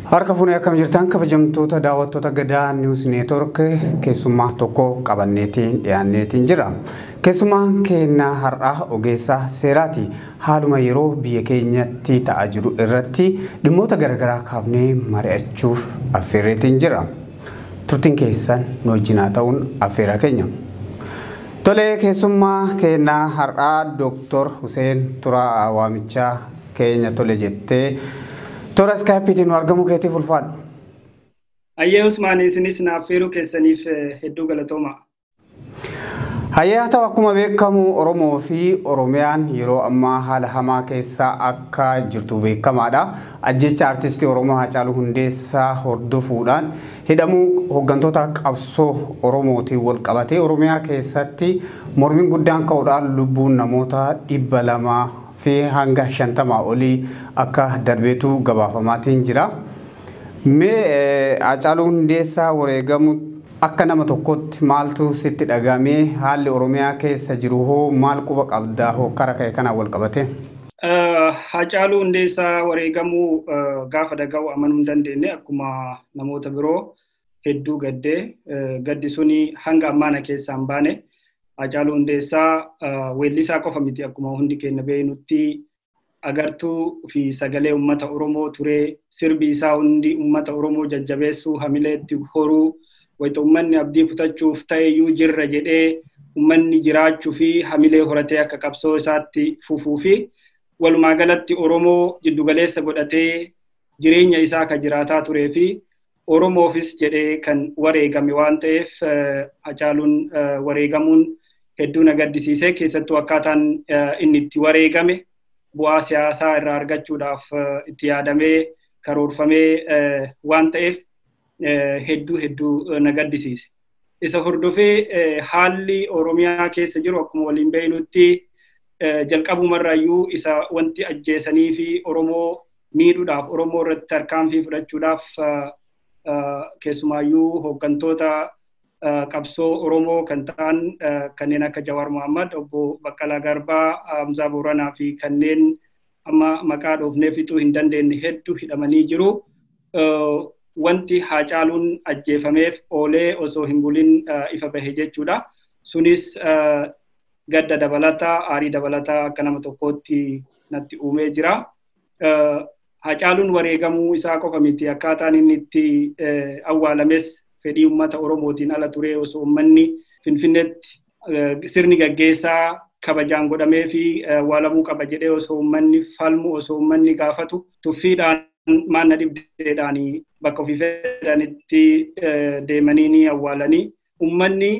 Harka fuunee akkam jirtan kabajamtoota daawwattoota gadaa niwus neetwork keessummaa tokko qabanneetiin dhiyaanneetiin jira. Keessummaan keenya har'aa ogeessa seeraati. Haaluma yeroo biyya keenyatti ta'aa jiru irratti dhimmoota garaagaraa kaafnee mari'achuuf affeerreetiin jira. Turtiin keessan nu wajjin haa ta'uun affeeraa keenya. Tolee keessummaa keenya har'aa Dooktor Huseen Turaa Waamichaa keenya tole jettee toora iskaayipiitiin nu argamuu keetiif ulfaadhu. Ayyee Usmaan isinis naaf feeruu keessaniif hedduu galatooma. Hayyee haa ta'u akkuma beekamu Oromoo fi Oromiyaan yeroo ammaa haala hamaa keessa akka jirtu beekamaadha. Ajjeecha artistii Oromoo Haacaaluu Hundeessaa hordofuudhaan hidhamuu hooggantoota qabsoo Oromootiin wal qabatee Oromiyaa keessatti mormiin guddaan ka'uudhaan lubbuun namoota dhibba lama fi hanga 50 olii akka darbeetu gabaafamaatiin jira. Mee Haacaaluu Hundeessaa wareegamu akka nama tokkootti maaltu sitti dhagahame? Haalli Oromiyaa keessa jiru hoo maal quba qabda hookkara ka'e kanaan wal qabatee? Haacaaluu Hundeessaa wareegamuu gaafa dhagahu amanuu hin dandeenye akkuma namoota biroo. hedduu gaddee gaddi suni hanga ammaa na keessaa hin baane. Hacaaluu Hundeessaa weellisaa qofa miti akkuma hundi keenya beeknutti agartuu fi sagalee uummata Oromoo turee sirbi isaa hundi uummata Oromoo jajjabeessuu hamileetti horuu wayita uummanni abdii kutachuuf ta'eyyuu jirra jedhee uummanni jiraachuu fi hamilee horatee akka qabsoo isaatti fufuu fi walumaa galatti Oromoo jiddugaleessa godhatee jireenya isaa akka jiraataa turee fi Oromoofis jedhee kan wareegame waan ta'eef Hacaaluun wareegamuun hedduu na gaddisiise keessattuu akkaataan inni itti wareegame bu'aa siyaasaa irraa argachuudhaaf itti yaadamee karoorfamee waan ta'eef hedduu hedduu na gaddisiise. Isa hordofee haalli Oromiyaa keessa jiru akkuma waliin beeknutti jalqabumarraayyuu isa wanti ajjeesanii fi Oromoo miidhuudhaaf Oromoo irratti tarkaanfii fudhachuudhaaf keessumaayyuu hooggantoota qabsoo Oromoo kan ta'an kanneen akka Jawaar Mohaammed, obbo Baqqalaa Garbaa, Hamzaa Booranaa fi kanneen amma maqaa dhoofnee fixuu hin dandeenye heddu hidhamanii jiru. Wanti Haacaaluun ajjeefameef oolee osoo hin bulin ifa bahe jechuudha. Sunis gadda dabalata, aarii dabalata akka nama tokkootti natti uumee jira. Haacaaluun wareegamuu isaa qofa miti akkaataan inni itti awwaalames fedhii uummata Oromootiin ala turee osoo uummanni Finfinneetti sirni gaggeessaa kabajaan godhamee fi waalamuu qaba jedhee osoo uummanni falmu osoo uummanni gaafatu tuffiidhaan maanna dhibdeedhaan bakka ofii fedhanitti deemanii ni awwaalanii uummanni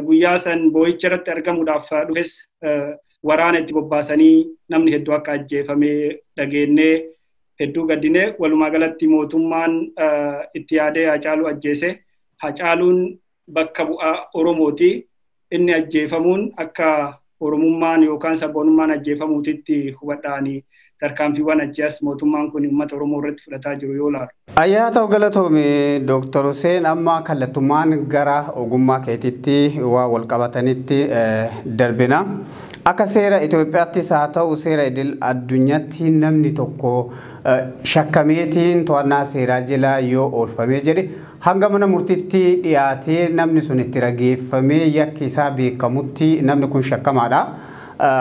guyyaa san boo'icha irratti argamuudhaaf dhufes waraana itti bobbaasanii namni hedduu akka ajjeefamee dhageennee hedduu gaddinee walumaa galatti mootummaan itti yaadee hacaaluu ajjeese hacaaluun bakka bu'aa Oromooti. Inni ajjeefamuun akka Oromummaan yookaan sabboonummaan ajjeefamuutitti hubadhaani tarkaanfiiwwan achii as mootummaan kun uummata Oromoo irratti fudhataa jiru yoo laalu. Ayyaa ta'u galatoomi Dooktar Huseen amma kallattumaan gara ogummaa keetitti waa wal qabatanitti darbina. Akka seera Itoophiyaattis haa ta'u seera idil addunyaatti namni tokko shakkameetiin to'annaa seeraa jala yoo oolfamee jedhe Hanga mana murtiitti dhiyaatee namni sun itti rageeffamee yakki isaa beekamutti namni kun shakkamaadha.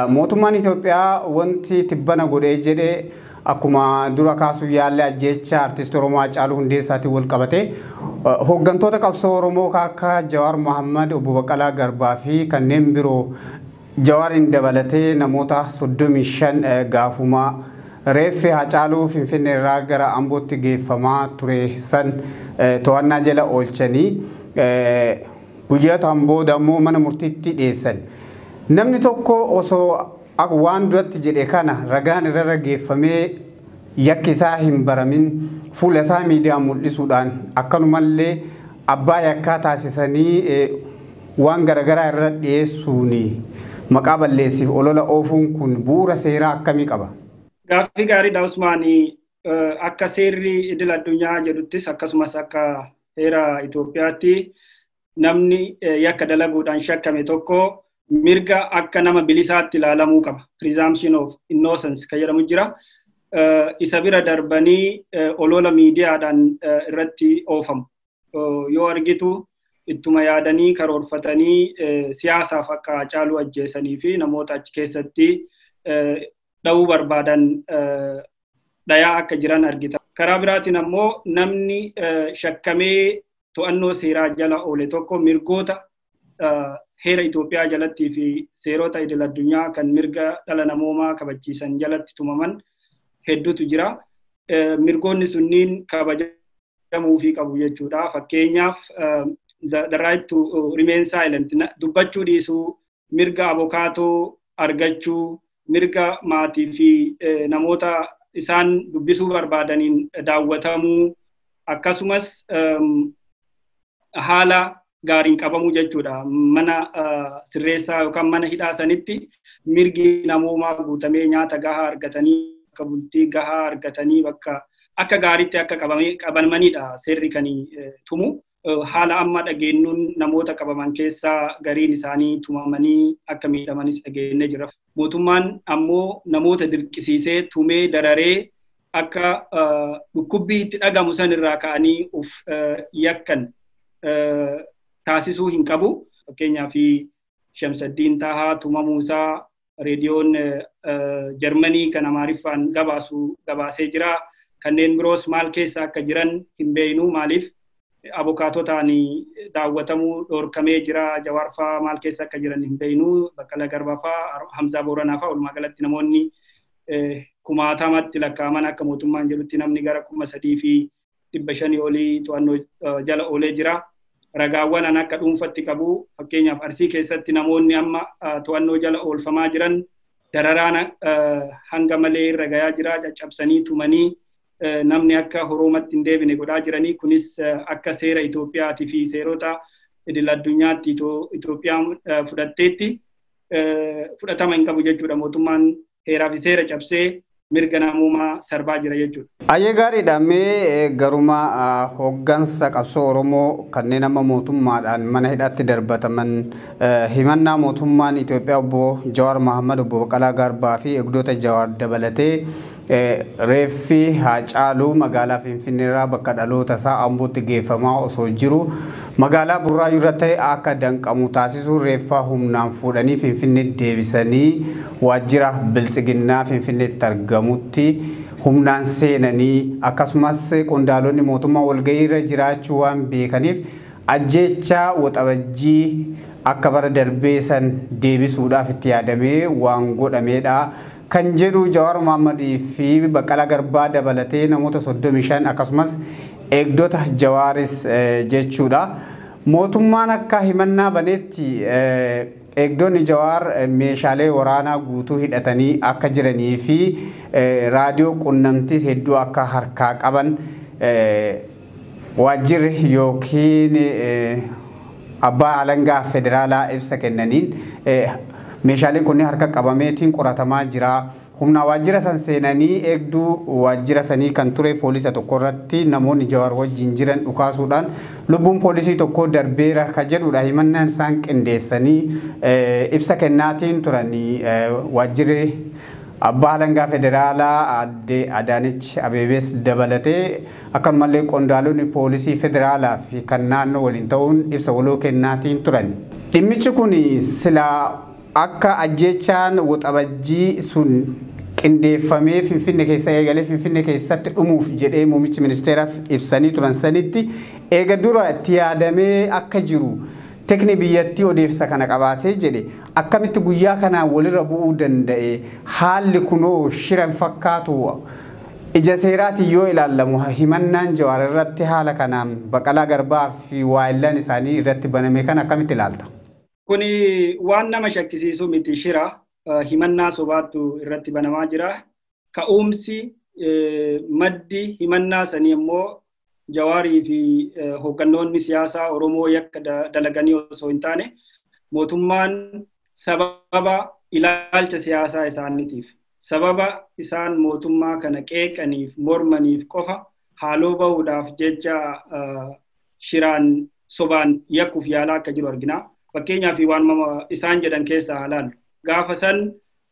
Mootummaan Itoophiyaa wanti tibbana godhee jedhe akkuma dura kaasuuf yaalle ajjeechaa Artiist Oromoo Haacaaluu Hundeessaatiin walqabatee hooggantoota qabsoo Oromoo akka Jawaar Mahaammad, Obbo Baqqalaa Garbaa fi kanneen biroo Jawaariin dabalatee namoota 35 gaafuma reeffi Haacaaluu Finfinneerraa gara Ambootti geeffamaa ture san to'annaa jala oolchanii guyyootaan booda ammoo mana murtiitti dhiyeessan. Namni tokko osoo waan duratti jedhe kana ragaan irrarra geeffamee yakki isaa hin baramin fuula isaa miidiyaan mul'isuudhaan akkanumallee abbaa yakkaa taasisanii waan garagaraa irra dhiyeessuun maqaa balleessiif olola oofuun kun bu'uura seeraa akkamii qaba? Gaaffii gaariidha Usmaan. Akka seerri idil addunyaa jedhuttis akkasumas akka heera Itoophiyaatti namni yakka dalaguudhaan shakkame tokko mirga akka nama bilisaatti ilaalamuu qaba. Presumption of innocence kan jedhamu jira. Isa bira darbanii olola miidiyaadhaan irratti oofamu. Yoo argitu ittuma yaadanii karoorfatanii siyaasaaf akka Haacaaluu ajjeesanii fi namoota achi keessatti dha'uu barbaadan dhayaa akka jiran argita. Karaa biraatiin ammoo namni shakkamee to'annoo seeraa jala oole tokko mirgoota heera Itoophiyaa jalattii fi seerota idil addunyaa kan mirga dhala namoomaa kabachiisan jalatti tumaman hedduutu jira. Mirgoonni sunniin kabajamuu fi qabu jechuudha. Fakkeenyaaf the right to remain silent dubbachuu dhiisuu mirga abokaatoo argachuu, mirga maatii fi namoota isaan dubbisuu barbaadaniin daawwatamuu akkasumas haala gaariin qabamuu jechuudha. Mana sirreessaa yookaan mana hidhaa sanitti mirgi namoomaa guutamee nyaata gahaa argatanii bakka bultii gahaa argatanii bakka akka gaariitti akka qabamaniidha seerri kan tumu. haala amma dhageennuun namoota qabaman keessaa gariin isaanii tumamanii akka miidhamanis dhageennee jira. Mootummaan ammoo namoota dirqisiisee tumee dararee akka dhukkubbii itti dhagamu san irraa ka'anii of yakkan taasisuu hin qabu. Fakkeenyaaf Shamsaddiin Taahaa tumamuu isaa reediyoon Jarmanii kan Amaariffaan gabaasu gabaasee jira. Kanneen biroos maal keessa akka jiran hin beeknu maaliif abokaatotaan daawwatamuu dhorkamee jira. Jawaarfaa maal keessa akka jiran hin beeknu. Baqqala Garbafaa, Hamzaa Booranaafaa walumaa galatti namoonni kumaatamatti lakkaa'aman akka mootummaan jedhutti namni gara kuma sadii fi dhibba shanii olii to'annoo jala oolee jira. Ragaawwan an akka dhuunfatti qabu fakkeenyaaf Arsii keessatti namoonni amma to'annoo jala oolfamaa jiran dararaan hanga malee irra gayaa jira caccabsanii tumanii namni akka horoomatti hin deebine godhaa jiranii kunis akka seera Itoophiyaatii fi seerota idil addunyaatti Itoophiyaan fudhatteetti fudhatama hin qabu jechuudha mootummaan heeraa fi seera cabsee mirga namoomaa sarbaa jira jechuudha. Ayyee gaariidha mee garuma hoggansa qabsoo Oromoo kanneen amma mootummaadhaan mana hidhaatti darbataman himannaa mootummaan Itoophiyaa obbo Jawaar Mahammad obbo Baqalaa Garbaa fi eegdota Jawaar dabalatee Reeffi Haacaaluu magaalaa Finfinneerraa bakka dhalootasaa Ambootti geeffamaa osoo jiru magaalaa Burraayyuurra ta'e akka danqamu taasisuun reeffa humnaan fuudhanii Finfinneetti deebisanii waajjira Biltsiginnaa Finfinneetti argamutti humnaan seenanii akkasumas qondaalonni mootummaa walga'iirra jiraachuu waan beekaniif ajjeechaa Waxabajjii akka bara darbee san deebisuudhaaf itti yaadamee waan godhameedha kan jedhu Jawaar Mohammad fi Baqqalaa Garbaa dabalatee namoota 35 akkasumas eegdota Jawaaris jechuudha. Mootummaan akka himannaa baneetti eegdonni Jawaar meeshaalee waraanaa guutuu hidhatanii akka jiranii fi raadiyoo qunnamtiis hedduu akka harkaa qaban Waajjirri ykn Abbaa Alangaa Federaalaa ibsa kennaniin meeshaaleen kunniin harka qabameetiin qoratamaa jira. Humnaa waajjira san seenanii eegduu waajjira sanii kan ture poolisa tokko irratti namoonni Jawaar wajjiin jiran dhukaasuudhaan lubbuun poolisii tokkoo darbeera ka jedhuudha himannaan isaan qindeessanii ibsa kennaatiin turan waajjirri Abbaa Alangaa Federaalaa Aadde Adaanech Abeebees dabalatee. Akkanumallee qondaalonni poolisii federaalaa fi kan naannoo waliin ta'uun ibsa waloo kennaatiin turan. Dhimmichi kun silaa akka ajjeechaan Waxabajjii sun qindeeffamee Finfinne keessa eegalee Finfinne keessatti dhumuuf jedhee muummichi ministeeraas ibsanii turan sanitti eega dura itti yaadamee akka jiru tikni biyyattii odeessa kana qabaatee jedhe akkamitti guyyaa kanaan walirra bu'uu danda'e haalli kunoo shira hin fakkaatu Ija seeraatiin yoo ilaallamu himannaan Jawaar irratti haala kanaan Baqalaa Garbaa fi waayillan isaanii irratti baname kana akkamitti ilaalta? Kuni waan nama shakkisiisu miti shira, himannaa sobaattu irratti banamaa jira. Ka'uumsi, maddi himannaa sanii ammoo Jawaarii fi hooggannoonni siyaasaa Oromoo yakka dalaganii osoo hin taane mootummaan sababa ilaalcha siyaasaa isaaniitiif sababa isaan mootummaa kana qeeqaniif mormaniif qofa haaloo bahuudhaaf jecha shiraan sobaan yakkuuf yaalaa akka jiru argina. Fakkeenyaaf waanuma isaan jedhan keessaa haa ilaallu. Gaafa san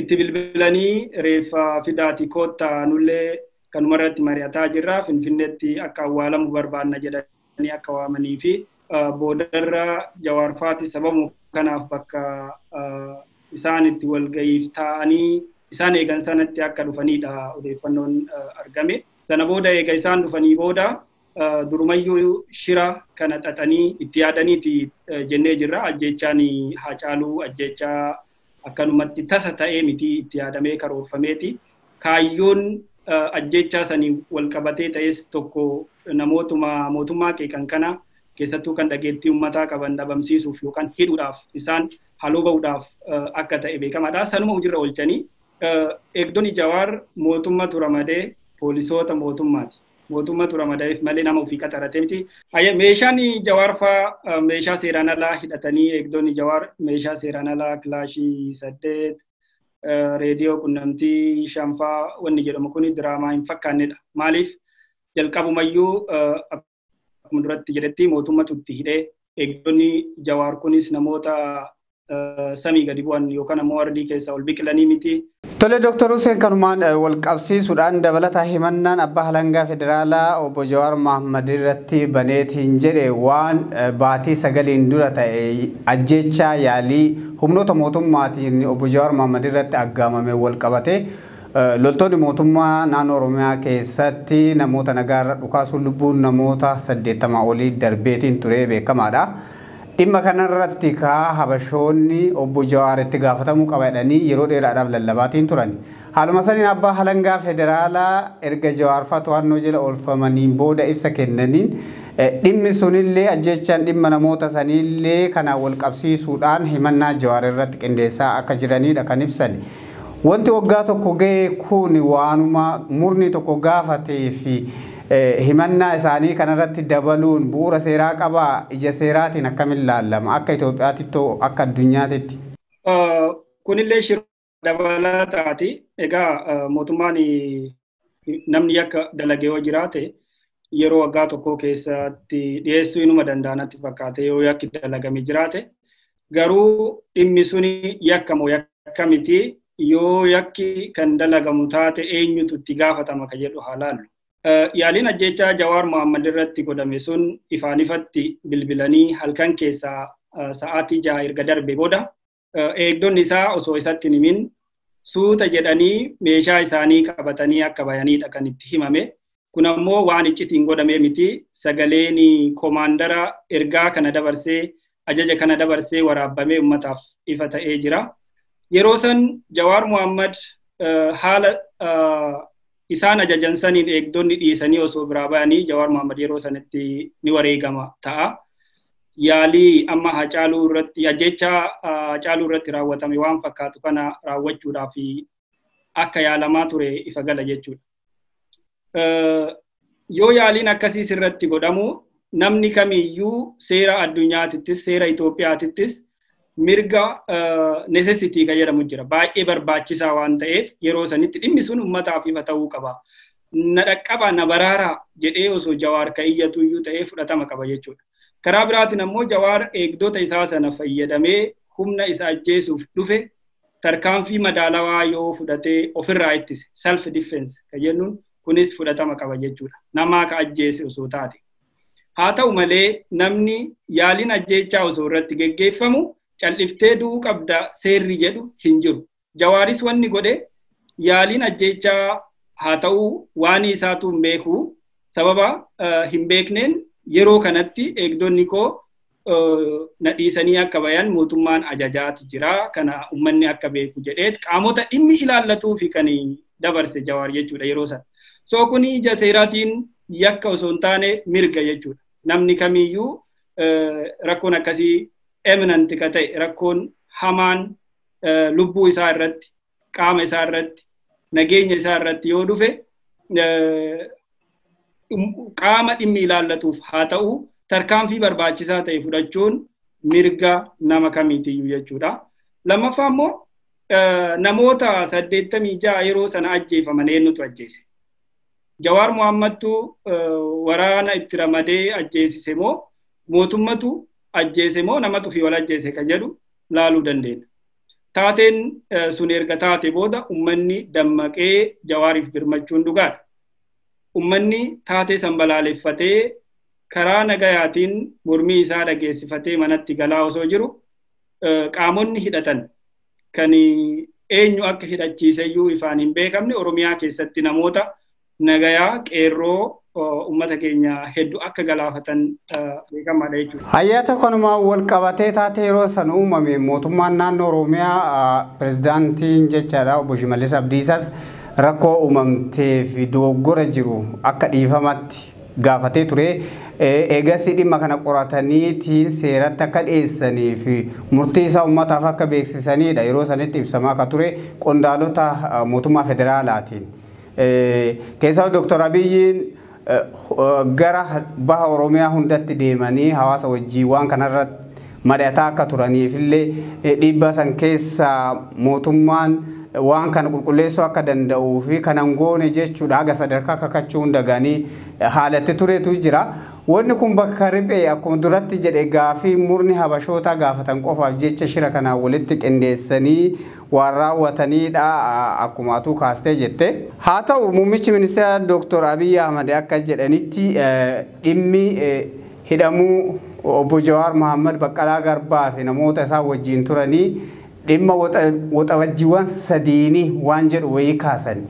itti bilbilanii reeffa fidaati kootta nullee kanuma irratti mari'ataa jirra finfinneetti akka awwaalamu barbaanna jedhanii akka waamanii fi boodarra jawaarfaati sababu kanaaf bakka isaan itti walga'iif taa'anii isaan eegan sanatti akka dhufanidha odeeffannoon argame. Sana booda eega isaan dhufanii booda durumayyuu shira kana xaxanii itti yaadaniiti jennee jirra. Ajjeechaan Haacaaluu ajjeechaa akkanumatti tasa ta'ee miti itti yaadamee karoorfameeti. Kaayyoon ajjeechaa sanii wal qabatee ta'es tokko namootuma mootummaa qeeqan kana keessattuu kan dhageettii ummataa qaban dhabamsiisuuf yookaan hidhuudhaaf isaan haloo ba'uudhaaf akka ta'e beekamaadha. Sanuma hojirra oolchanii eegdonni Jawaar mootummatu ramadee poolisoota mootummaati. Mootummaatu ramadaeef malee nama ofii qaxarate miti. Haye meeshaan Jawaar faa meeshaa seeraan alaa hidhatanii eegdonni Jawaar meeshaa seeraan alaa kilaashii saddeet reediyoo qunnamtii shanfaa wanni jedhamu kun diraamaa hin fakkaannedha. Maaliif jalqabumayyuu akkuma duratti jedhetti mootummatu itti hidhee eegdonni Jawaar kunis namoota samii gadi bu'an yookaan ammoo ardii keessaa ol biqilanii miti. Tole Dooktar Huseen kanumaan wal qabsiisuudhaan dabalataa himannaan abbaa halangaa federaalaa obbo Jawaar Mahaammad irratti baneetiin jedhe waan baatii sagaliin dura ta'e ajjechaa yaalii humnoota mootummaatiin obbo Jawaar Mahaammad irratti aggaamame wal qabate loltoonni mootummaa naannoo Oromiyaa keessatti namoota nagaarra dhukaasuun lubbuun namoota saddeettamaa olii darbeetiin turee beekamaadha. Dhimma kanarratti kaa Habashoonni Obbo Jawaar itti gaafatamuu qaba jedhanii yeroo dheeraadhaaf lallabaatiin turan. Haaluma saniin Abbaa Halangaa Federaalaa erga Jawaar faa to'annoo jela oolfamaniin booda ibsa kennaniin dhimmi sunillee ajjeechaan dhimma namoota saniillee kanaan wal qabsiisuudhaan himannaa Jawaar irratti qindeessaa akka jiraniidha kan ibsani. Wanti waggaa tokko gahe kun waanuma murni tokko gaafatee fi Himannaa isaanii kanarratti dabaluun bu'uura seeraa qabaa? Ija seeraatiin akkamitti laallama? Akka Itoophiyaatittoo akka addunyaatitti? Kunillee shira dabalataati. Egaa mootummaan namni yakka dalage yoo jiraate yeroo waggaa tokkoo keessatti dhiyeessuu inuma danda'a natti fakkaate yoo yakki dalagame jiraate garuu dhimmi suni yakka moo yakka miti yoo yakki kan dalagamu taate eenyutu itti gaafatama ka jedhu haa laallu. Yaaliin ajjeechaa Jawaar Mohaammed irratti godhame sun ifaan ifatti bilbilanii halkan keessaa sa'aatii jaha erga darbe booda eegdonni isaa osoo isatti hin himin suuta jedhanii meeshaa isaanii qabatanii akka bayanidha kan itti himame. Kun ammoo waan iccitiin godhamee miti. Sagaleen komaandara ergaa kana dabarsee ajaja kana dabarsee waraabbamee ummataaf ifa ta'ee jira. Yeroo san Jawaar Muhammad haala isaan ajajan saniin eegdonni dhiisanii osoo biraa bayanii Jawaar Muhammad yeroo sanatti ni wareegama ta'a. Yaalii amma Hacaaluu irratti ajjecha Hacaaluu irratti raawwatame waan fakkaatu kana raawwachuudhaaf akka yaalamaa ture ifa gala jechuudha. yoo yaaliin akkasii sirratti godhamu namni kamiyyuu seera addunyaatittis seera Itoophiyaatittis mirga necessity kan jedhamu jira. Baay'ee barbaachisaa waan ta'eef yeroo sanitti dhimmi sun uummataaf ifa ta'uu qaba. Na dhaqqaba na baraaraa jedhee osoo jawaar kan iyyatu iyyuu ta'ee fudhatama qaba jechuudha. Karaa biraatiin ammoo jawaar eegdota isaa sana fayyadamee humna isa ajjeesuuf dhufe tarkaanfii madaalawaa yoo fudhatee ofirraa ittise self defense kan jennuun kunis fudhatama qaba jechuudha. Namaa ka ajjeese osoo taate. Haa ta'u malee namni yaaliin ajjeechaa osoo irratti geggeeffamu cal'iftee du'uu qabda seerri jedhu hin jiru. Jawaaris wanni godhe yaaliin ajjeechaa haa ta'u waan isaatu hin beeku sababa hin beekneen yeroo kanatti eegdonni koo na dhiisanii akka bayan mootummaan ajajaati jira kana ummanni akka beeku jedheet qaamota dhimmi ilaallatuu fi kan dabarse jawaar jechuudha yeroo sana. So kun ija seeraatiin yakka osoo hin taane mirga jechuudha. Namni kamiyyuu rakkoon akkasii eminanti ka ta'e rakkoon hamaan lubbuu isaa irratti qaama isaa irratti nageenya isaa irratti yoo dhufe qaama dhimmi ilaallatuuf haa ta'u tarkaanfii barbaachisaa ta'e fudhachuun mirga nama kamiitiyyuu jechuudha. Lammaffaa immoo namoota saddeettamii ja'a yeroo sana ajjeefaman eenyutu ajjeese? Jawaar Mohaammadtu waraana itti ramadee ajjeesise moo mootummatu ajjeese moo namatu fi wal ajjeese ka jedhu laaluu dandeenya. Taateen sun erga taate booda ummanni dammaqee Jawaariif birmachuun dhugaadha. Ummanni taatee san balaaleffatee karaa nagayaatiin mormii isaa dhageessifatee manatti galaa osoo jiru qaamonni hidhatan kan eenyu akka hidhachiiseyyuu ifaan hin beekamne Oromiyaa keessatti namoota nagayaa qeerroo uummata keenya hedduu akka galaafatan beekamaadha jechuudha. Hayyaata kanumaan wal qabatee taatee yeroo san uumame mootummaan naannoo Oromiyaa pirezidaantiin jechaadha obbo Shimallis Abdiisaas rakkoo uumamtee fi dogoggora jiru akka dhiifamatti gaafatee ture. Eegasii dhimma kana qorataniitiin seeratti akka dhiyeessanii fi murtii isaa uummataaf akka beeksisaniidha yeroo sanitti ibsamaa akka ture qondaalota mootummaa federaalaatiin. Keessaa Dooktar Abiyyiin gara baha Oromiyaa hundatti deemanii hawaasa wajjin waan kanarratti mari'ataa akka turaniif illee dhiibbaa san keessa mootummaan waan kana qulqulleessuu akka danda'uu fi kanan goone jechuudha haga sadarkaa kakachuu hunda ganii haalatti turetu jira. Wanni kun bakka riphee akkuma duratti jedhe gaafii murni habashootaa gaafatan qofaaf jecha shira kanaan walitti qindeessanii waan raawwatanii dha akkuma atuu kaastee jette. Haa ta'u muummichi ministeeraa Dooktor Abiy Ahmad akka jedhanitti dhimmi hidhamuu Obbo Jawaar Mahaammad, Baqqalaa Garbaa fi namoota isaan wajjiin turanii dhimma Waxabajjiiwwan sadiini waan jedhu wayii kaasani.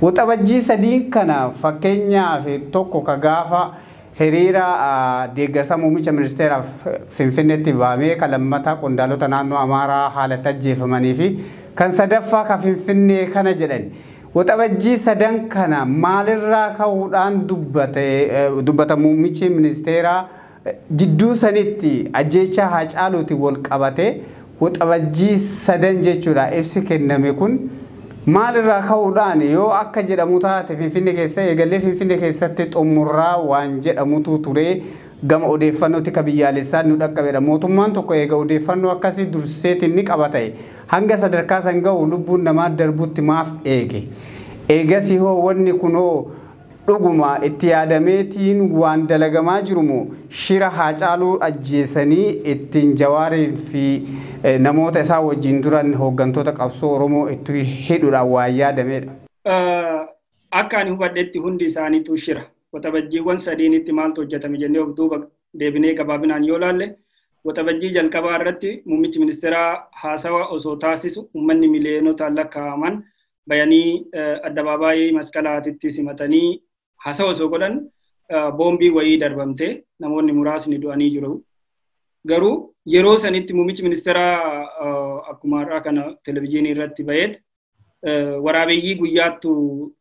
Waxabajjii sadiin kana fakkeenyaaf tokko ka gaafa Hiriira deeggarsa muummicha ministeeraaf Finfinneetti ba'amee kan lammataa qondaalota naannoo Amaaraa haala itti ajjeefamanii fi kan sadaffaa kan Finfinnee kana jedhan Waxabajjii sadan kana maalirraa ka'uudhaan dubbata muummichi ministeeraa jidduu sanitti ajjeechaa Haacaaluutiin wal qabatee Waxabajjii sadan jechuudha ibsi kenname kun maal irraa ka'uudhaan yoo akka jedhamu taate Finfinne keessa eegallee Finfinne keessatti xumurraa waan jedhamutu ture gama odeeffannoo tika biyyaalessaan nu dhaqqabedha. Mootummaan tokko eega odeeffannoo akkasii durseetiin ni qaba ta'e hanga sadarkaa san ga'u lubbuun namaa darbutti maaf eege? Eegasihoo wanni kunoo Dhuguma itti yaadamee tiin waan dalagamaa jiru moo shira Haacaaluu ajjeesanii ittiin Jawaariin fi namoota isaa wajjin duran hooggantoota qabsoo Oromoo itti hidhu dhaan waan yaadamee dha? Akka ani hubadhetti hundi isaaniituu shira. Waxabajjiiwwan sadiinitti maaltu hojjatame jennee of duuba deebinee gabaabinaan yoo laalle, Waxabajjii jalqabaa irratti muummichi ministeeraa haasawa osoo taasisu uummanni miliyonotaan lakkaa'aman bayanii addabaabaayii masqalaatitti simatanii hasawa osoo godhan boombii wayii darbamte namoonni muraasni du'anii jiru. Garuu yeroo sanitti muummichi ministeeraa akkuma har'aa kana televizyiinii irratti baheet waraabeeyyii guyyaattu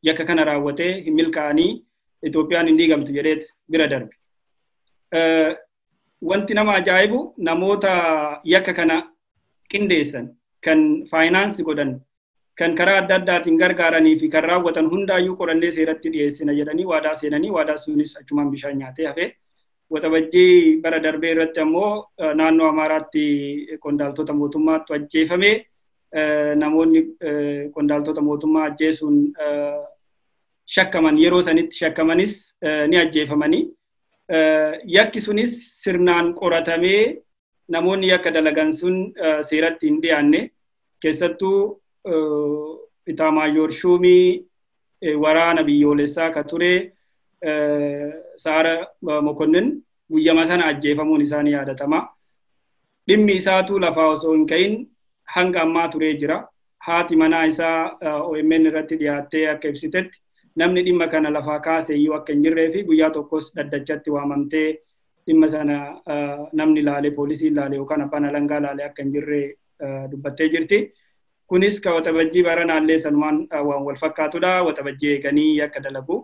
yakka kana raawwatee hin milkaa'anii Itoophiyaan hin diigamtu jedheet bira darbe. Wanti nama ajaa'ibu namoota yakka kana qindeessan kan faayinaansi godhan kan karaa adda addaatiin gargaaranii fi kan raawwatan hundaayyuu qorannee seeratti dhiyeessina jedhanii waadaa seenanii waadaa sunis achumaan bishaan nyaatee hafe. Waxabajjii bara darbee irratti ammoo naannoo Amaaraatti qondaaltota mootummaattu ajjeefame. Namoonni qondaaltota mootummaa ajjeesuun shakkaman yeroo sanitti shakkamanis ni ajjeefamanii. Yakki sunis sirnaan qoratamee namoonni yakka dalagan sun seeratti hin dhiyaanne keessattuu itaamaayoor shuumii waraana biyyoolessaa ka ture saara mokonnin guyyama sana ajjeefamuun isaa ni yaadatama. Dhimmi isaatuu lafaa osoo hin ka'in hanga ammaa turee jira. Haati manaa isaa OMN irratti dhiyaattee akka ibsitetti namni dhimma kana lafaa kaase iyyuu akka hin jirree fi guyyaa tokkos dhaddachatti waamamtee dhimma sana namni laalee poolisiin laalee yookaan abbaan alangaa laalee akka hin jirre dubbattee jirti. Kunis ka waxabajjii baranaallee sanumaan waan wal fakkaatudha. Waxabajjii eeganii akka dalagu.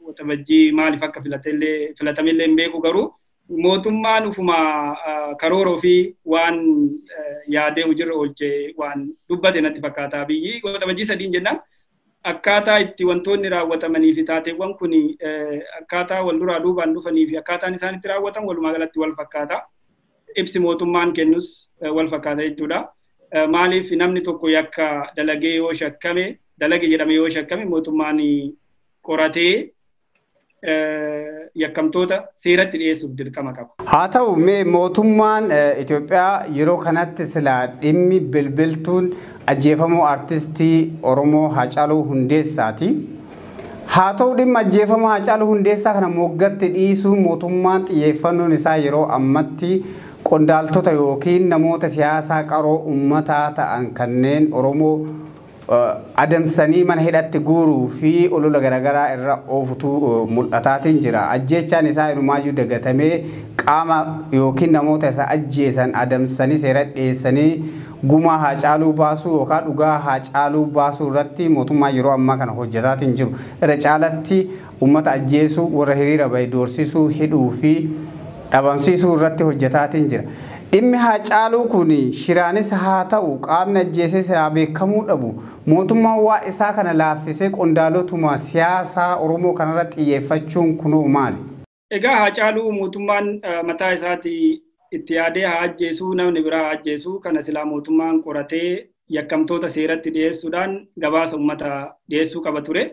Waxabajjii maaliif akka filatamellee hin beeku garuu mootummaan ufuma karoora ofii waan yaadee hojiirra oolchee waan dubbate natti fakkaata biyyi waxabajjii sadiin jennaan akkaataa itti wantoonni raawwatamanii fi taateewwan kun akkaataa wal duraa duubaan dhufanii fi akkaataan isaan itti raawwatan walumaa galatti wal fakkaata. Ibsi mootummaan kennus wal fakkaata jechuudha. Maaliif namni tokko yakka dalagee yoo shakkame dalage jedhame yoo shakkame mootummaan qoratee yakkamtoota seeratti dhiyeessuuf dirqama qaba. Haa ta'u mee mootummaan Itoophiyaa yeroo kanatti silaa dhimmi bilbiltuun ajjeefamuu artistii Oromoo Haacaaluu Hundeessaati. Haa ta'u dhimma ajjeefama Haacaaluu Hundeessaa kana moggatti dhiisuu mootummaan xiyyeeffannoon isaa yeroo ammatti qondaaltota yookiin namoota siyaasaa qaroo ummataa ta'an kanneen Oromoo adamsanii mana hidhatti guuruu fi olola garagaraa irra oofutu mul'ataatiin jira. Ajjeechaan isaa inumaayyuu dagatamee qaama ykn namoota isa ajjeesan adamsanii seeratti dhiyeessanii gumaa Haacaaluu baasuu yookaan dhugaa Haacaaluu baasuu irratti mootummaan yeroo ammaa kana hojjataatiin jiru irra caalatti Ummata ajjeesuu, warra hiriira bahe doorsisuu, hidhuu fi dhabamsiisuu irratti hojjetaatiin jira. Dhimmi Haacaaluu kun shiraanis haa ta'u qaamni ajjeeses haa beekamuu dhabu, mootummaan waa isaa kana laaffisee qondaalotuma siyaasaa Oromoo kanarratti xiyyeeffachuun kunoo maali? Egaa Haacaaluu mootummaan mataa isaatii itti yaadee haa ajjeesuu, namni biraa haa ajjeesuu, kana silaa mootummaan qoratee yakkamtoota seeratti dhiyeessuudhaan gabaasa ummata dhiyeessuu qaba ture.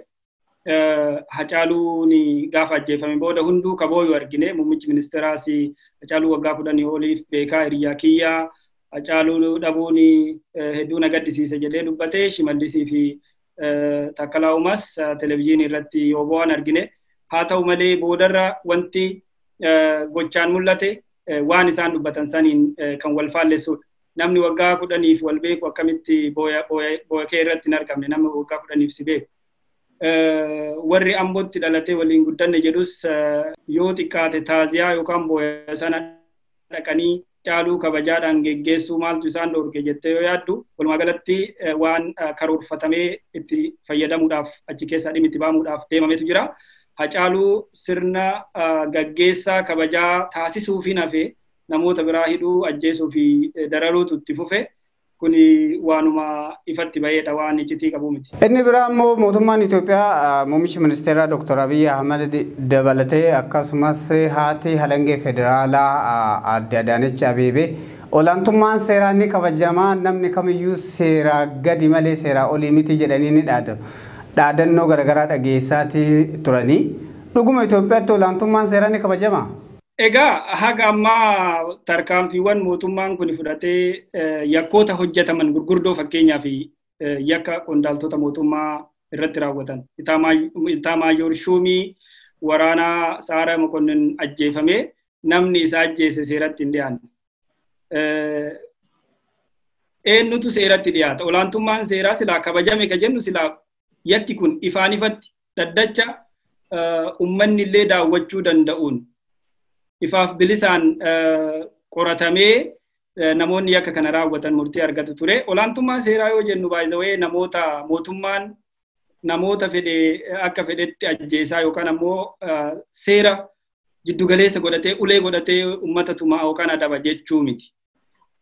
Hacaaluun gaafa ajjeefame booda hunduu kabooyu argine muummichi ministeeraas Hacaaluu waggaa kudhanii oliif beekaa hiriyyaa kiyyaa Hacaaluu dhabuun hedduu na gaddisiise jedhee dubbate Shimallisii fi Taakkalaa Uumaas televezyiinii irratti yoo bo'an argine haa ta'u malee boodarra wanti gochaan mul'ate waan isaan dubbatan saniin kan wal faallessudha. Namni waggaa kudhaniif wal beeku akkamitti booya kee irratti hin argamne namni waggaa kudhaniif si beeku. warri ambootti dhalatee waliin guddanne jedhus yoo xiqqaate taaziyaa yookaan booya sana dhaqanii caaluu kabajaadhaan geggeessuu maaltu isaan dhoorke jettee yoo yaaddu walumaa galatti waan karoorfatamee itti fayyadamuudhaaf achi keessaa dhimmi itti ba'amuudhaaf deemametu jira. Hacaaluu sirna gaggeessaa kabajaa taasisuufiin hafee namoota biraa hidhuu ajjeesuu fi dararuutu itti fufe. kuni waanuma ifatti baheedha waan iccitii qabu miti. Inni biraa immoo mootummaan Itoophiyaa muummicha ministeeraa Dr. Abiy Ahmad dabalatee akkasumas haati halangee federaalaa aadde Adaanech Abeebee olaantummaan seeraa ni kabajamaa namni kamiyyuu seeraa gadi malee seeraa olii miti jedhanii ni dhaadu. Dhaadannoo garaagaraa dhageessaatii turanii dhuguma Itoophiyaatti olaantummaan seeraa ni kabajamaa? Egaa haga ammaa tarkaanfiiwwan mootummaan kun fudhatee yakkoota hojjetaman gurguddoo fakkeenyaaf yakka qondaaltota mootummaa irratti raawwatan itaamaayoor shuumii waraanaa saara mokonnin ajjeefamee namni isa ajjeese seeratti hin dhiyaanne. Eenyutu seeratti dhiyaata? Olaantummaan seeraa silaa kabajame ka jennu silaa yakki kun ifaan ifatti dhaddacha ummanni illee daawwachuu danda'uun ifaaf bilisaan qoratamee namoonni yakka kana raawwatan murtii argatu ture. Olaantummaa seeraa yoo jennu baay'ee namoota mootummaan namoota fedhe akka fedhetti ajjeesaa yookaan ammoo seera jiddugaleessa godhatee ulee godhatee uummata tumaa yookaan adaba jechuu miti.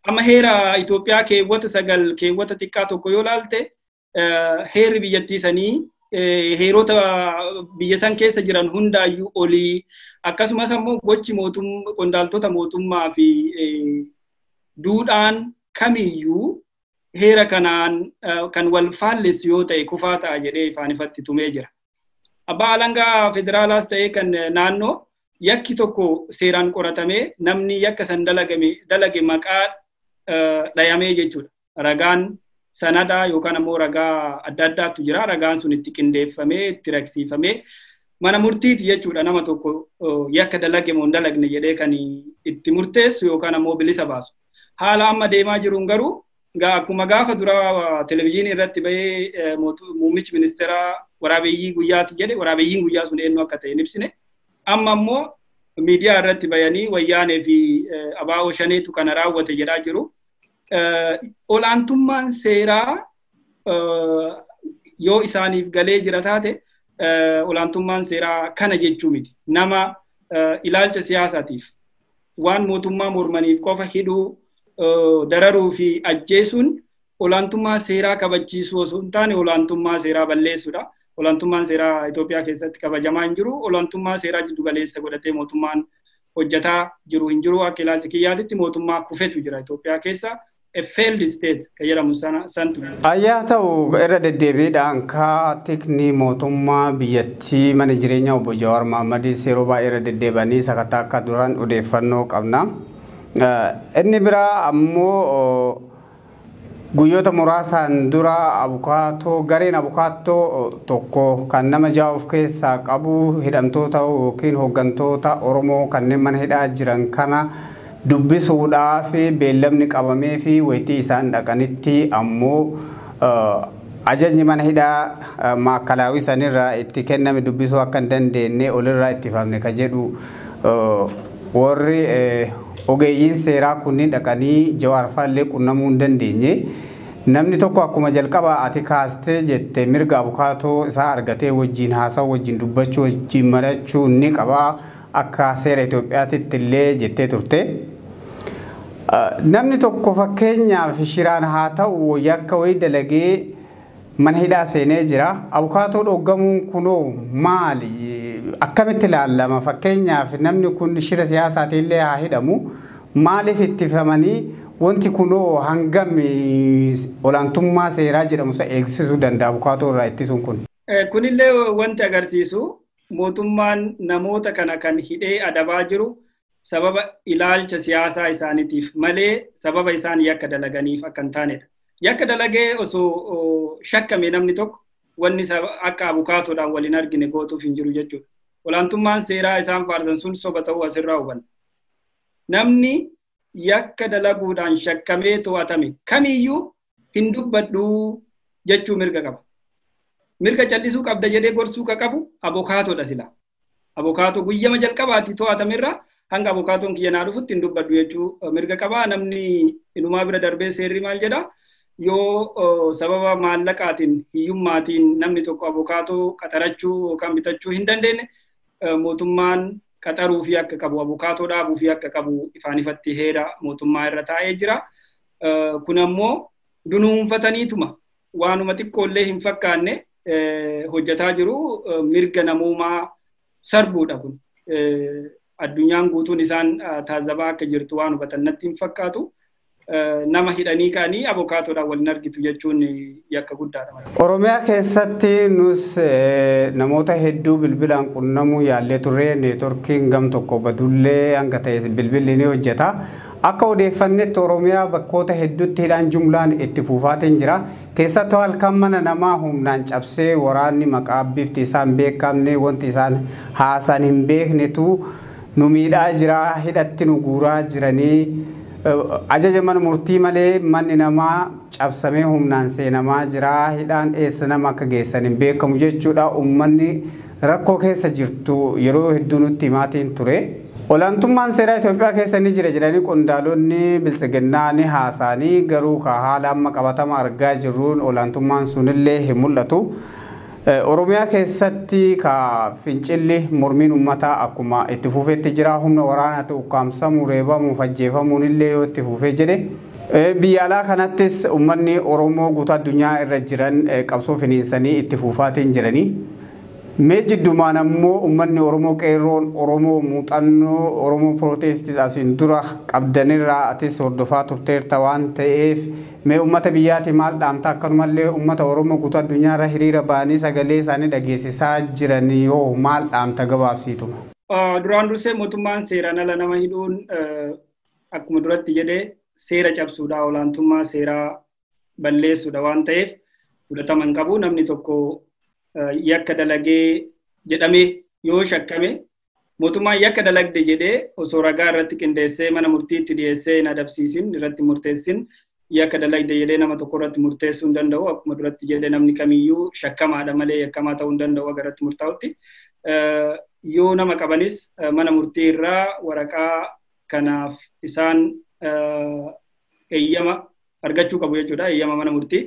Amma heera Itoophiyaa keewwata sagal keewwata xiqqaa tokko yoo laalte heerri biyyattii sanii heerota biyya san keessa jiran hundaayyuu olii akkasumas ammoo gochi qondaaltota mootummaa fi duudhaan kamiyyuu heera kanaan kan wal faallessu yoo ta'e kufaa ta'a jedhee ifaan ifatti tumee jira. Abbaa alangaa federaalaas ta'ee kan naannoo yakki tokko seeraan qoratamee namni yakka san dalagame dalage maqaa dhayamee jechuudha. ragaan sanadaa yookaan ammoo ragaa adda addaatu jira. Ragaan sun itti qindeeffamee itti ragsiifamee mana murtiiti jechuudha nama tokko yakka dalage moo hin dalagne jedhee kan itti murteessu yookaan ammoo bilisa baasu. Haala amma deemaa jiruun garuu akkuma gaafa duraa televizyiinii irratti bahee muummichi ministeeraa waraabeeyyii guyyaati jedhe waraabeeyyiin guyyaa sun eenyu akka ta'e hin ibsine. Amma ammoo miidiyaa irratti bayanii wayyaanee fi abaa'oo shaneetu kana raawwate jedhaa jiru. olaantummaan seeraa yoo isaaniif galee jira taate olaantummaan seeraa kana jechuu miti. Nama ilaalcha siyaasaatiif waan mootummaa mormaniif qofa hidhuu dararuu fi ajjeesuun olaantummaa seeraa kabachiisuu osoo hin taane olaantummaa seeraa balleessuudha. Olaantummaan seeraa Itoophiyaa keessatti kabajamaa hin jiru. Olaantummaa seeraa jiddu galeessa godhatee mootummaan hojjataa jiru hin jiru akka ilaalcha kiyyaatitti mootummaa kufetu jira Itoophiyaa keessa a failed state ka jedhamu sana santu jira. Ayyaa ta'u irra deddeebiidhaan kaa tikni mootummaa biyyattii mana jireenya obbo Jawaar Mahammadiis yeroo baay'ee irra deddeebanii sakattaa akka duran odeeffannoo qabna. Inni biraa ammoo Guyyoota muraasaan dura abukaatoo gareen abukaattoo tokko kan nama ja'a of keessaa qabu hidhamtoota yookiin hoggantoota Oromoo kanneen mana hidhaa jiran kana dubbisuudhaaf beellamni qabameefi waytii isaan dhaqanitti ammoo Ajajni mana hidhaa Maakalaawii sanirraa itti kenname dubbisuu akka hin dandeenne olirraa ittifamne ka jedhu warri ogeeyyiin seeraa kunniin dhaqanii Jawaar faa illee qunnamuu hin dandeenye. Namni tokko akkuma jalqabaa ati kaastee jette mirga abukaatoo isaa argatee wajjiin haasawuu, wajjiin dubbachuu, wajjiin mariyachuu ni qaba. Akka seera Itoophiyaatitti illee jettee turte. Namni tokko fakkeenyaaf shiraan haa ta'u yakka wayii dalagee mana hidhaa seenee jira. Abukaatoo dhoggamuun kunoo maali? Akkamitti ilaallama? Fakkeenyaaf namni kun shira siyaasaatiin illee haa hidhamu. Maaliif ittifamanii wanti kunoo hangam olaantummaa seeraa jedhamu san eegsisuu danda'a abukaatoo irraa ittisuun kun? Kunillee wanti agarsiisu Mootummaan namoota kana kan hidhee adabaa jiru sababa ilaalcha siyaasaa isaanitiif malee sababa isaan yakka dalaganiif akka hin taanedha. Yakka dalagee osoo shakkame namni tokko wanni akka abukaatoodhaan wal hin argine gootuuf hin jiru jechuudha. Olaantummaan seeraa isaan faarsan sun soba ta'uu asirraa hubanna. Namni yakka dalaguudhaan shakkamee to'atame kamiyyuu hin dubbadhu jechuu mirga qaba. Mirga callisuu qabda jedhee gorsuu ka qabu abokaatoodha sila. Abokaatoo guyyama jalqabaatti to'atamerraa hanga abokaatoon kiyya naa dhufutti hin dubbadhu jechuu mirga qaba. Namni inumaa bira darbee seerri maal jedha? Yoo sababa maallaqaatiin hiyyummaatiin namni tokko abokaatoo qaxarachuu yookaan bitachuu hin dandeenye mootummaan qaxaruu fi akka qabu abokaatoo dhaabuu fi akka qabu ifaan ifatti heera mootummaa irra taa'ee jira. Kun ammoo dunuunfataniituma waanuma xiqqoollee hin fakkaanne hojjetaa jiru mirga namoomaa sarbuudha kun. Addunyaan guutuun isaan taazabaa akka jirtu waan hubatan natti hin fakkaatu. Nama hidhanii ka'anii abokaatoodhaan wal hin argitu jechuun yakka guddaadha malee. Oromiyaa keessatti nus namoota hedduu bilbilaan qunnamuu yaallee turre neetworkiin gam tokko badullee hanga ta'e bilbilli ni hojjeta. Akka odeeffannetti Oromiyaa bakkoota hedduutti hidhaan jumlaan itti fuufaatiin jira. Keessattuu halkan mana namaa humnaan cabsee waraanni maqaa bifti isaa hin beekamne wanti isaan haasan hin beeknetu nu miidhaa jira hidhatti nu guuraa jiranii ajaja mana murtii malee manni namaa cabsamee humnaan seenamaa jira. Hidhaan eessa nama akka geessan hin beekamu jechuudha. Uummanni rakkoo keessa jirtu yeroo hedduu nutti himaatiin ture. Olaantummaan seeraa Itoophiyaa keessa ni jira jedhanii qondaalonni biltsiginnaa ni haasaanii garuu ka haala amma qabatama argaa jirruun olaantummaan sunillee hin mul'atu. Oromiyaa keessatti ka fincilli mormiin ummataa akkuma itti fufetti jira. Humna waraanaati ukkaamsamuu, reebamuuf ajjeefamuun illee yoo itti fufe jedhe. Biyya alaa kanattis ummanni Oromoo guutuu addunyaa irra jiran qabsoo finiinsanii itti fuufaatiin jiranii. Mee jiddumaan ammoo ummanni Oromoo Qeerroon Oromoo muuxannoo Oromoo Protest asiin dura qabdanirraa atis hordofaa turteerta waan ta'eef Mee ummata biyyaati maal dhaamta akkanumallee ummata oromoo guutuu addunyaarra hiriira ba'anii sagalee isaanii dhageessisaa jiranii hoo maal dhaamta gabaabsiituma. Duraan dursee mootummaan seeraan ala nama hidhuun akkuma duratti jedhe seera cabsuudha olaantummaa seeraa balleessuudha waan ta'eef fudhatama hin qabu namni tokko yakka dalagee jedhamee yoo shakkame Mootummaan yakka dalagde jedhee osoo ragaa irratti qindeessee mana murtiitti dhiyeessee hin adabsiisin irratti murteessin yakka dalagde jedhee nama tokko irratti murteessuu hin danda'u. Akkuma duratti jedhe namni kamiyyuu shakkamaadha malee yakkamaa ta'uu hin danda'u akka irratti murtaa'utti. Yoo nama qabanis mana murtii irraa waraqaa kanaaf isaan eeyyama argachuu qabu jechuudha. Eeyyama mana murtii.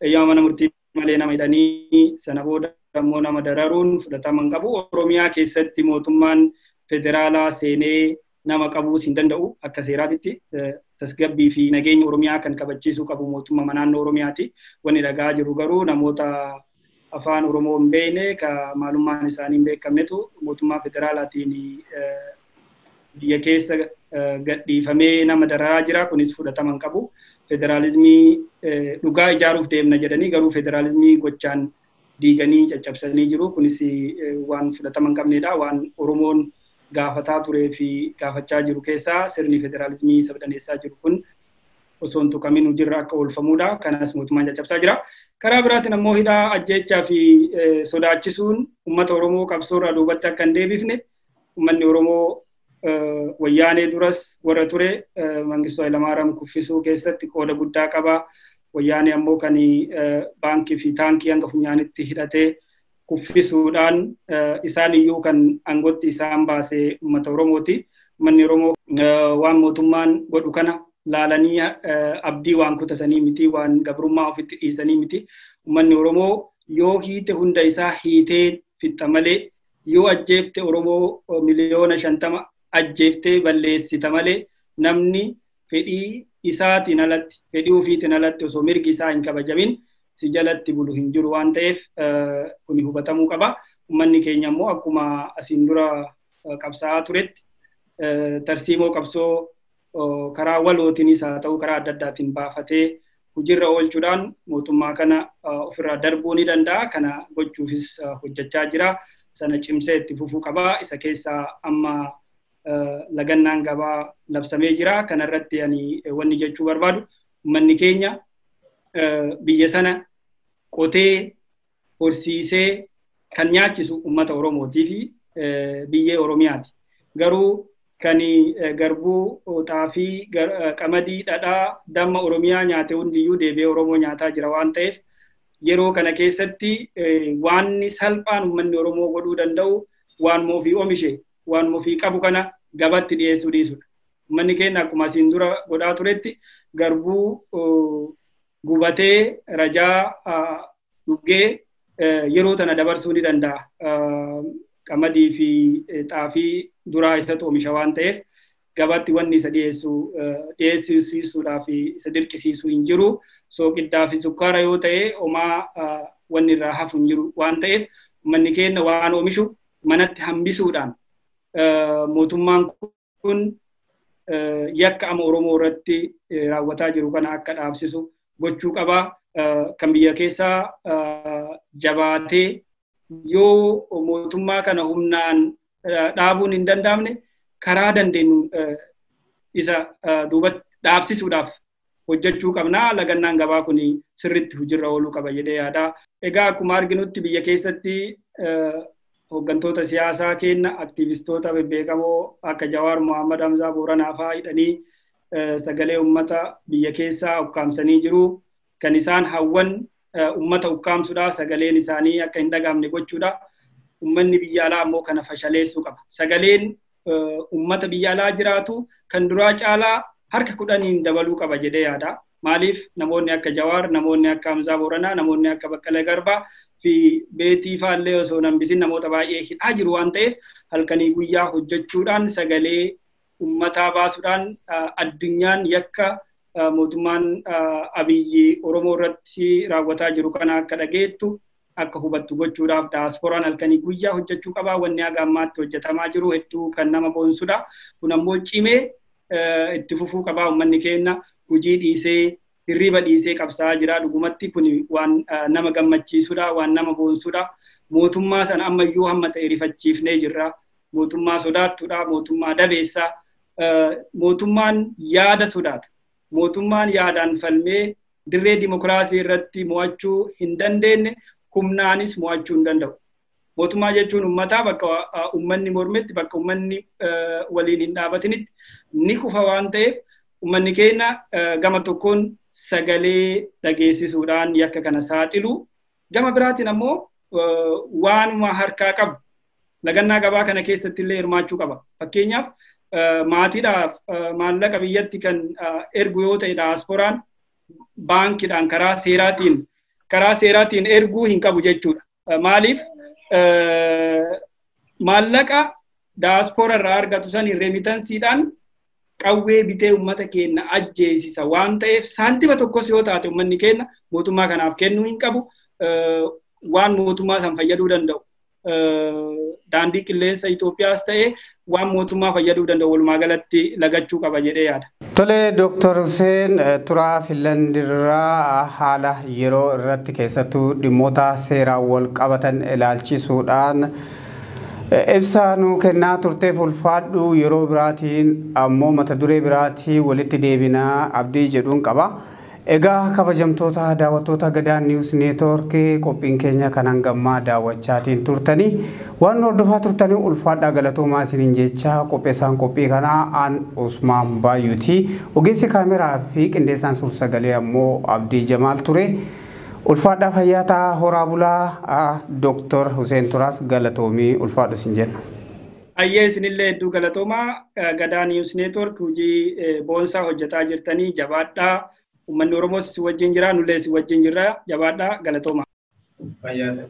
Eeyyama mana murtii malee nama hidhanii sana booda immoo nama dararuun fudhatama hin qabu. Oromiyaa keessatti mootummaan federaalaa seenee nama qabuus hin danda'u akka seeraatitti tasgabbii fi nageenya Oromiyaa kan kabachiisuu qabu mootummaa naannoo Oromiyaati. Wanni dhagaa jiru garuu namoota afaan Oromoo hin beekne ka maalummaan isaanii hin beekamnetu mootummaa federaalaatiin biyya keessa gadhiifamee nama dararaa jira kunis fudhatama hin qabu. Federaalizimii dhugaa ijaaruuf deemna jedhanii garuu federaalizimii gochaan diiganii caccabsanii jiru kunis waan fudhatama hin qabnedha waan Oromoon gaafataa turee fi gaafachaa jiru keessaa sirni federaalizimii sabdaneessaa jiru kun osoo hin tuqamin hojiirra akka oolfamudha. Kanas mootummaan caccabsaa jira. Karaa biraatiin ammoo hidhaa ajjeechaa fi sodaachisuun uummata Oromoo qabsoorraa duubatti akka hin deebifne ummanni Oromoo wayyaanee duras warra ture Mangistuu Hayilamaariyaam kuffisuu keessatti qooda guddaa qaba. Wayyaanee ammoo kan baankii fi taankii hanga funyaanitti hidhatee kuffisuudhaan isaan iyyuu kan aangootti isaan baase uummata Oromooti. Uummanni Oromoo waan mootummaan godhu kana laalanii abdii waan kutatanii miti, waan gabrummaa ofitti dhiisanii miti. Uummanni Oromoo yoo hiite hunda isaa hiitee fixxa malee yoo ajjeefte Oromoo miliyoona shantama ajjeeftee balleessita malee namni fedhii isaatiin alatti fedhii ofiitiin alatti osoo mirgi isaa hin kabajamin si jalatti bulu hin jiru waan ta'eef kuni hubatamuu qaba. Uummanni keenya immoo akkuma asiin dura qabsaa'aa turetti tarsiimoo qabsoo karaa walootiinis haa ta'u karaa adda addaatiin baafatee hojiirra oolchuudhaan mootummaa kana ofirraa darbuu ni danda'a. Kana gochuufis hojjechaa jira. Sana cimsee itti fufuu qaba. Isa keessaa amma lagannaan gabaa labsamee jira. Kana irratti ani wanni jechuu barbaadu uummanni keenya biyya sana qotee horsiisee kan nyaachisu uummata Oromootii fi biyyee Oromiyaati. Garuu kan garbuu, xaafii, qamadii, dhadhaa, damma Oromiyaa nyaate hundiyyuu deebi'ee Oromoo nyaataa jira waan ta'eef yeroo kana keessatti waanni salphaan uummanni Oromoo godhuu danda'u waanuma ofii omishe waanuma ofii qabu kana gabatti dhiyeessuu dhiisudha. Uummanni keenya akkuma asiin dura godhaa turetti garbuu gubatee rajaa dhuggee yeroo tana dabarsuu ni danda'a. Qamadii fi xaafii duraa isatu oomisha waan ta'eef gabaatti wanni isa dhiyeessu dhiyeessisiisuudhaa fi isa dirqisiisu hin jiru. Sooqiddaa fi sukkaara yoo ta'e homaa wanni irraa hafu hin jiru waan ta'eef uummanni keenya waan oomishu manatti hambisuudhaan mootummaan kun yakka ama Oromoo irratti raawwataa jiru kana akka dhaabsisu gochuu qaba. Kan biyya keessaa jabaatee yoo mootummaa kana humnaan dhaabuun hin danda'amne karaa dandeenyu isa duubatti dhaabsisuudhaaf hojjechuu qabna. Lagannaan gabaa kun sirriitti hojiirra ooluu qaba jedhee yaada. Egaa akkuma arginutti biyya keessatti hooggantoota siyaasaa keenya aktiivistoota bebbeekamoo akka Jawaar Mohaammed Hamzaa Booranaa fa'aa hidhanii sagalee uummata biyya keessaa ukkaamsanii jiru. Kan isaan hawwan ummata ukkaamsuudha sagaleen isaanii akka hin dhagaamne gochuudha ummanni biyya alaa ammoo kana fashaleessuu qaba sagaleen ummata biyya alaa jiraatu kan duraa caalaa harka kudhaniin dabaluu qaba jedhee yaada maaliif namoonni akka jawaar namoonni akka hamzaa booranaa namoonni akka baqqalee garbaa fi beetii faallee osoo nambisin namoota baay'ee hidhaa jiru waan ta'eef halkanii guyyaa hojjechuudhaan sagalee ummataa baasuudhaan addunyaan yakka mootummaan abiyyi Oromoo irratti raawwataa jiru kana akka dhageettu akka hubattu gochuudhaaf daaspooraan halkanii guyyaa hojjechuu qabaa wanni haga ammaatti hojjetamaa jiru hedduu kan nama boonsudha. Kun ammoo cimee itti fufuu qabaa uummanni keenya hojii dhiisee hirriba dhiisee qabsaa'aa jira dhugumatti kun waan nama gammachiisudha waan nama boonsudha. Mootummaa sana ammayyuu hamma ta'e rifachiifnee jirra. mootummaa sodaattudha, mootummaa dabeessa, mootummaan yaada sodaata. Mootummaan yaadaan falmee dirree dimokiraasii irratti mo'achuu hin dandeenye humnaanis mo'achuu hin danda'u. Mootummaa jechuun uummataa bakka uummanni mormetti bakka uummanni waliin hin dhaabatinitti ni kufa waan ta'eef uummanni keenya gama tokkoon sagalee dhageessisuudhaan yakka kana saaxilu Gama biraatiin ammoo waanuma harkaa qabu lagannaa gabaa kana keessatti illee hirmaachuu qaba. Fakkeenyaaf maatiidhaaf maallaqa biyyatti kan ergu yoo ta'e daasporaan baankiidhaan karaa seeraatiin karaa seeraatiin erguu hin qabu jechuudha. Maaliif maallaqa daaspora irraa argatu saniin reemitansiidhaan qawwee bitee ummata keenna ajjeesisa waan ta'eef saantima tokkos yoo taate ummanni keenna mootummaa kanaaf kennuu hin qabu waan mootummaa san fayyaduu danda'u daandii qilleensa Itoophiyaas ta'ee waan mootummaa fayyaduu danda'u walumaa galatti lagachuu qaba jedhee yaada. Tole Dooktar Huseen turaa Finlandirraa haala yeroo irratti keessattuu dhimmoota seeraan wal qabatan ilaalchisuudhaan Ibsa nuu kennaa turteef ulfaadhu yeroo biraatiin ammoo mata duree biraatiin walitti deebina abdii jedhun qaba. Egaa kabajamtoota daawwattoota Gadaa News Network qophiin keenya kan hanga ammaa daawwachaatiin turtanii waan nu hordofaa turtanii ulfaadhaa galatoomaa isiniin jechaa qopheessaan qophii kanaa an Usmaan Baayyuuti. Ogeessi kaameraa fi qindeessaan suur-sagalee ammoo Abdii Jamaal ture. Ulfaadhaa fayyaa ta'aa horaa bulaa Dr. Huseen Turaas galatoomii ulfaadhu sin jenna. Ayyee isinillee hedduu galatoomaa Gadaa News Network hojii boonsaa hojjetaa jirtanii jabaadhaa uummanni Oromoos isin wajjin jira nullee isin wajjin jirra jabaadhaa galatoomaa. Fayyaa ta'aa.